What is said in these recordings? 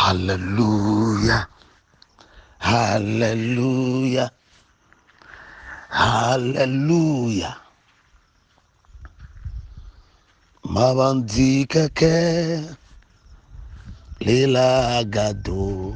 Haleluya, haleluya, haleluya. Mabandi keke lila gado.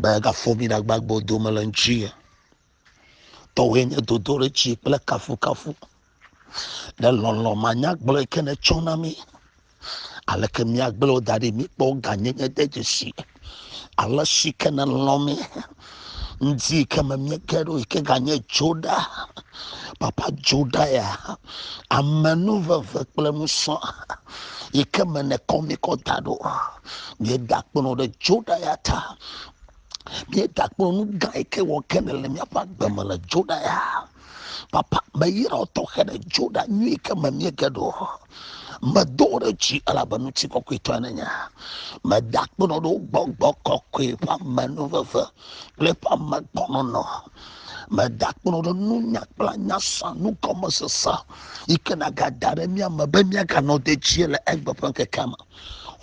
Mègafɔ mí ɖagbagbe o dome le ŋutinye. Tɔwòe nye dodoɖedzi kple kafukafu. Ne lɔlɔ̃ manyagblɔe ke nètsɔ na mí. Aleke míagblẽ wò da ɖi míkpɔ gãnyenye de dzesi? Ale si ke nèlɔ̃ mí ŋdi yi ke me míeke ɖo yi ke ganye Dzoda, papa Dzoda ya, amenuveve kple nusɔ yi ke me nèkɔ mí kɔ da ɖo. Míeda kpɔnɔ ɖe Dzoda ya ta. Míeda kpɔnɔ nu gã yi ke wɔ ke nèle míaƒe agbe me le Dzoda ya. papa meyra tɔxɛ ɖe dzo ɖa nyui ke me miege ɖo medo ɖe dzi elabe ŋuti kɔkɔetɔ ne nya meda kpenɔ ɖo gbɔgbɔ kɔkɔe ƒe amenu veve kple ƒe amegbɔnɔnɔ meda kpenɔ ɖe nunya kple nyasa nugɔmesese yi ke nagada ɖe mía me be míaganɔ dedie le egbe ƒe ŋkekea me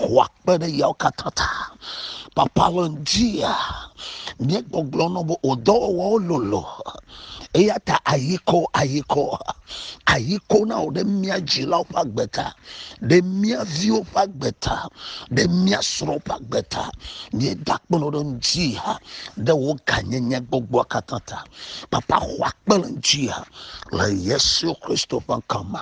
xɔa kpe ɖe yawo katã ta papa le ŋutia míegbɔgblɔ nɔ be wò dɔwɔwɔwo lolo eya ta ayikɔ ayikɔ ayikɔ na wò ɖe mía dzilawo ƒe agbe ta ɖe mía viwo ƒe agbe ta ɖe mía srɔ̃wo ƒe agbe ta míeda kpɔnɔ ɖe ŋutia ɖe wò ganyenye gbogboa katã ta papa xɔa kpe le ŋutia le yesu kristo ƒe ŋkɔ me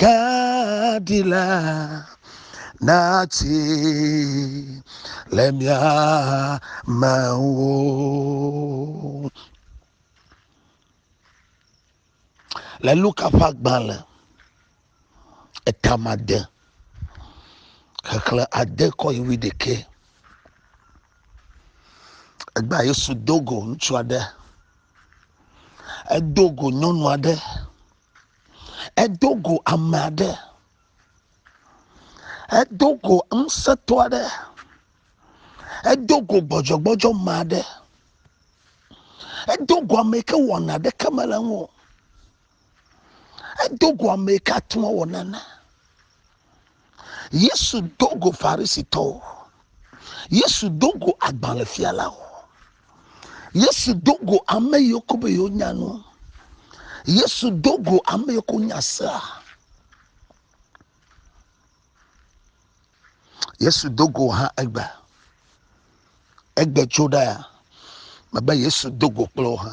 kaɖi la natsi le mia me wo. Le Luka ƒe agbalẽ etama de xexlẽ ade kɔ yi wi ɖekɛ. Egbea Yesu do go ŋutsu aɖe. Edo go nyɔnu aɖe. Edo go ame aɖe. Edo go ŋusẽtɔ aɖe. Edo go gbɔdzɔgbɔdzɔ me aɖe. Edo go ame yi ke wɔna aɖeke mele eŋu o. Edo go ame yi ke ate ŋu awɔ nane. Yesu do go Farisitɔwo. Yesu do go agbalẽfialawo. Yesu do go ame yiwo ko be yewo nya nu. Yesu do go ame yiwo ko nya sea. Yesu do go hã egbe. Egbe tso ɖa ya. Mebe Yesu do go kple wo hã.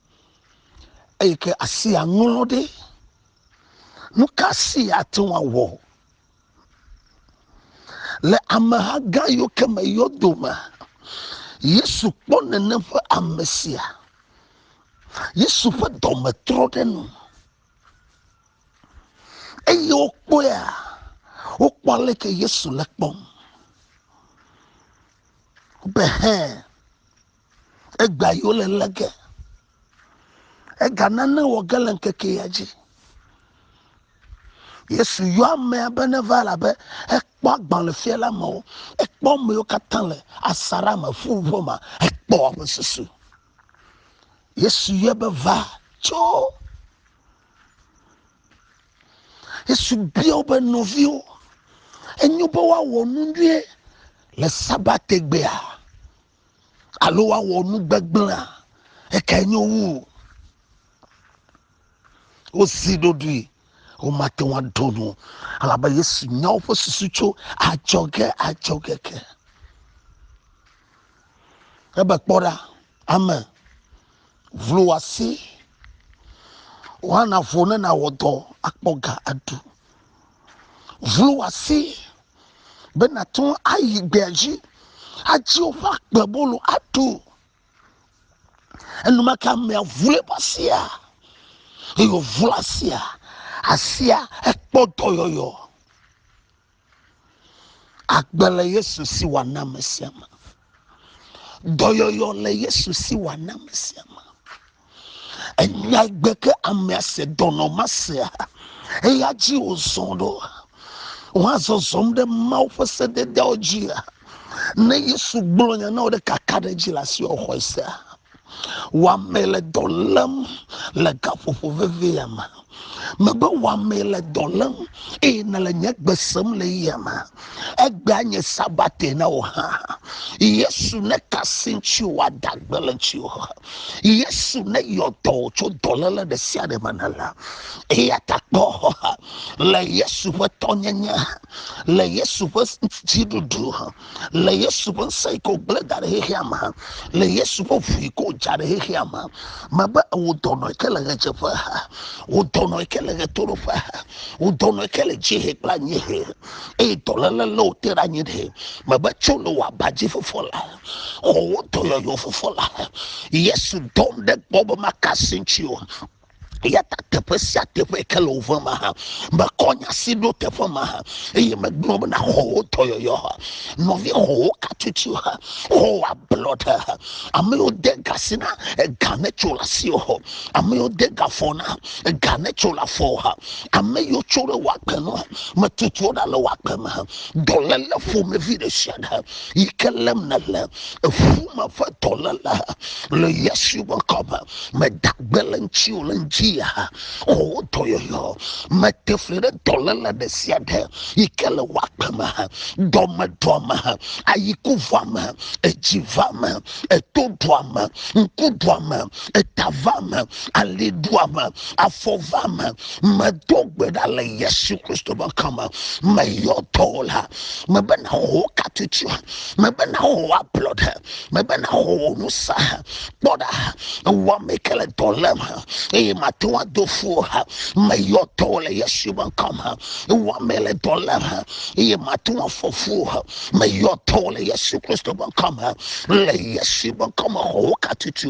eyi ke asi aŋlɔ ɖe. Nu ka si ate ŋu awɔ le ameha gã yiwo ke me yɔ dome? Yesu kpɔ nene ƒe ame sia. Yesu ƒe dɔme trɔ ɖe nu eye wokpɔea wokpɔ aleke Yesu le kpɔm. Be hɛn. Egbea yi wole lé ge. Ega nane wɔ ge le ŋkeke ya dzi. Yesu yɔ amea be ne va la be ekpɔ agbalẽ fia la me wo. Ekpɔ amewo katã le asaɖa me ƒu ƒe ma. Ekpɔ woƒe susu. Yesu yɔ be va tso. Yesu bia wobe nɔviwo. Enyo be woawɔ nu nyuie le sabategbea. alo woawɔ nu gbegblẽa ekae nyo wu wosi ɖoɖoe womate ŋu aɖo nu elabe yesu nya woƒe susu tso adzɔge adzɔge ke ebe kpɔ ɖa ame vlo wasi woana vo ne nawɔ dɔ akpɔ ga aɖu vlo wasi be nàte ŋu ayi gbea dzi adi woƒe agbebolo aɖu. Enumake amea ʋu eƒe asia eye wòʋu asia. Asia ekpɔ dɔyɔyɔ. Agbe le Yesu si wɔna me sia me. Dɔyɔyɔ le Yesu si wòana ame sia ame. Enya gbe ke amea se dɔnɔ ma sea, eya dzi wòzɔ ɖo. Woazɔzɔm ɖe Mawu ƒe sededeawo dzia. Ne Yesu gblɔ nya na wò ɖe kaka ɖe edzi le asi wòxɔe sea. Wɔame le dɔ lém le gaƒoƒo vevi ya me. Mebe wɔame le dɔ lém eye nèle nye gbe sem le ya me. Egbea nye sabate na wò hã. Yesu neka asi ŋuti wòada gbe le ŋutiwò. Yesu neyɔ dɔ wò tso dɔléle ɖe sia ɖe me nèle. Eya ta kpɔ le Yesu ƒe tɔnyenye, le Yesu ƒe dziɖuɖu, le yesu ƒe ŋusẽ yi ke wògblẽ da ɖe xexea me le yesu ƒe ʋu yi ke wòdza ɖe xexea me mebe wò dɔnɔ yi ke le ɣedzeƒe ha wò dɔnɔ yi ke le ɣetoɖoƒe ha wò dɔnɔ yi ke le dziehe kple anyiehe eye dɔléle lé wò te ɖe anyi ɖe mebe tso le wò aba dzi fofo la xɔ wò dɔyɔyɔ fofo la yesu dɔm ɖe gbɔ be makasi ŋuti o eya ta teƒe sia teƒe ke le wòve ma ha mekɔ nya si ɖo teƒe ma ha eye megblɔ bena xɔ wo dɔyɔyɔ ha nɔvi xɔ wo katutu ha xɔ wo ablɔɖe ha ame yiwo de ga si na ega ne tso le asi o xɔ ame yiwo de ga fɔ na ega ne tso le afɔ ha ame yiwo tso ɖe wɔ akpe nɔ metutu wo ɖa le wɔ akpe me ha dɔléle ƒomevi ɖe sia ɖe yi ke lém nele eƒu me ƒe dɔléle ha le yesu ƒe ŋkɔ me Meda gbe le ŋutiwò le ŋdziya o wò dɔyɔyɔ. Mete fli ɖe dɔléle ɖe sia ɖe yi ke le wò agbe me, dɔmedɔa me, ayikuvɔa me, edzivɔa me, etoɖoa me, ŋkuɖoa me, etavɔa me, aliɖoa me, afɔvɔa me. Medo gbe ɖa le Yesu Kristo ƒe ŋkɔ me. Meyɔ dɔwɔla mebe nawɔ wò katutsia, mebe nawɔ wò ablɔɖe, mebe naxɔ wò nu sa kpɔ ɖa ewɔ ame ke le dɔ lém eye mate ŋu ado fu o meyɔ tɔwo le yesu ƒe ŋkɔ me ewɔ ame le dɔ lém eye mate ŋu afɔ fu o meyɔ tɔwo le yesu kristo ƒe ŋkɔ me le yesu ƒe ŋkɔ me xɔ wo katutu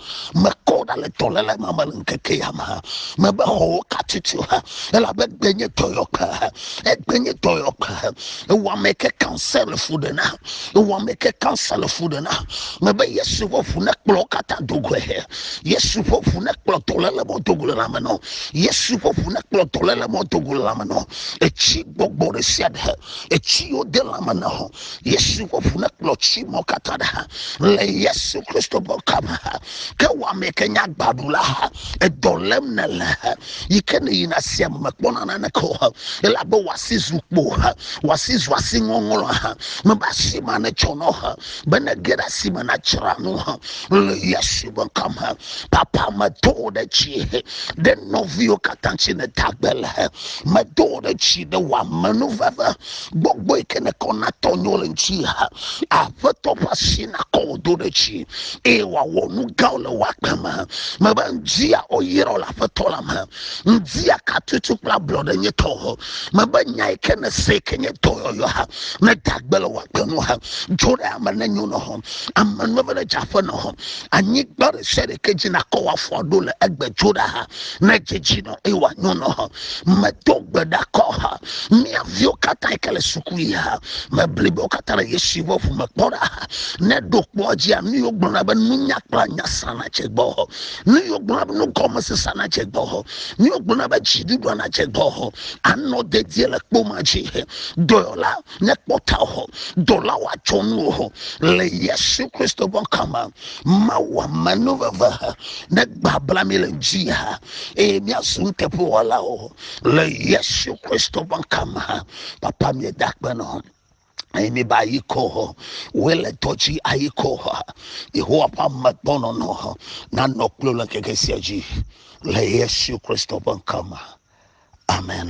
mekɔ ɖa le dɔléle ma me le ŋkeke ya me mebe xɔwo katiti o elabe gbe nye dɔyɔƒe egbe nye dɔyɔƒe ewɔame ke kansa le fu ɖe na ewɔame ke kansa le fu ɖe na mebe yesu ƒe ʋu ne kplɔ katã dogoe yesu ƒe ʋu ne kplɔ dɔléle mɔ dogo le lame nɔ yesu ƒe ʋu ne kplɔ dɔléle mɔ dogo le lame nɔ etsi gbɔgbɔ ɖe sia ɖe etsi yiwo de lame na ho Yesu ƒe ʋu nekplɔ tsi mɔ katã ɖe ha le Yesu Kristo ƒe kame ha. Ke wɔame ke nye agbaɖula ha. Edɔ lém ne le ha. Yi ke ne yina sia me mekpɔna naneke o ha. Ele abe wòasi zu kpo ha. Wòasi zu asi ŋɔŋlɔ ha. Mebe asi ma netsɔ nɔ ha. Be nege ɖe asi me nadzra nu ha. Le Yesu ƒe kame ha. Papa medo ɖe tsi ɖe nɔviwo katã tsi ne tagbe le ha. Medo ɖe tsi ɖe wɔamenuveve gbɔgbɔ yi ke nekɔ natɔ nyo le ŋuti ha aƒetɔ ƒe asi nakɔ wò do ɖe dzi eye wòawɔ nu gãwo le wò agbe me mebe ŋdia ɔyerɔ le aƒetɔ la me ŋdia katutu kple ablɔɖe nye tɔ o mebe nya yi ke nese yi ke nye dɔyɔyɔ ha ne dagbe le wò agbe nu ha dzo ɖe ame ne nyo nɔ hɔ ame nu ebe ne dze aƒe nɔ hɔ anyigba ɖe sia ɖe ke dzi nakɔ wò afɔ ɖo le egbe dzo ɖe ha ne dzedzi nɔ eye wòanyo nɔ hɔ medo gbe ɖakɔ ha mía viwo katã yi ke le suku yi ha me blibawo katã ɖe yesu ƒe ʋu me kpɔ ɖa ne ɖo kpɔ dzia nu yiwo gblɔna be nunya kple nya sana tse gbɔ nu yiwo gblɔna be nugɔmese sana tse gbɔ nu yiwo gblɔna be dziɖuɖu ana tse gbɔ anɔ dedie le kpo ma dzi dɔyɔla ne kpɔta o dɔlawo atsɔ nu o le yesu kristo ƒe kama mawu amenuveve ne gbabla mi le dzi ha eye miazu nuteƒewɔlawo le yesu kristo ƒe ŋkame papa míeda akpe nɔ eye míba ayi kɔ hɔ wele dɔ dzi ayi kɔ hɔ yehowa ƒe amegbɔnɔnɔ nanɔ kplo le ŋkeke sia dzi le yesu kristo ƒe ŋkame amen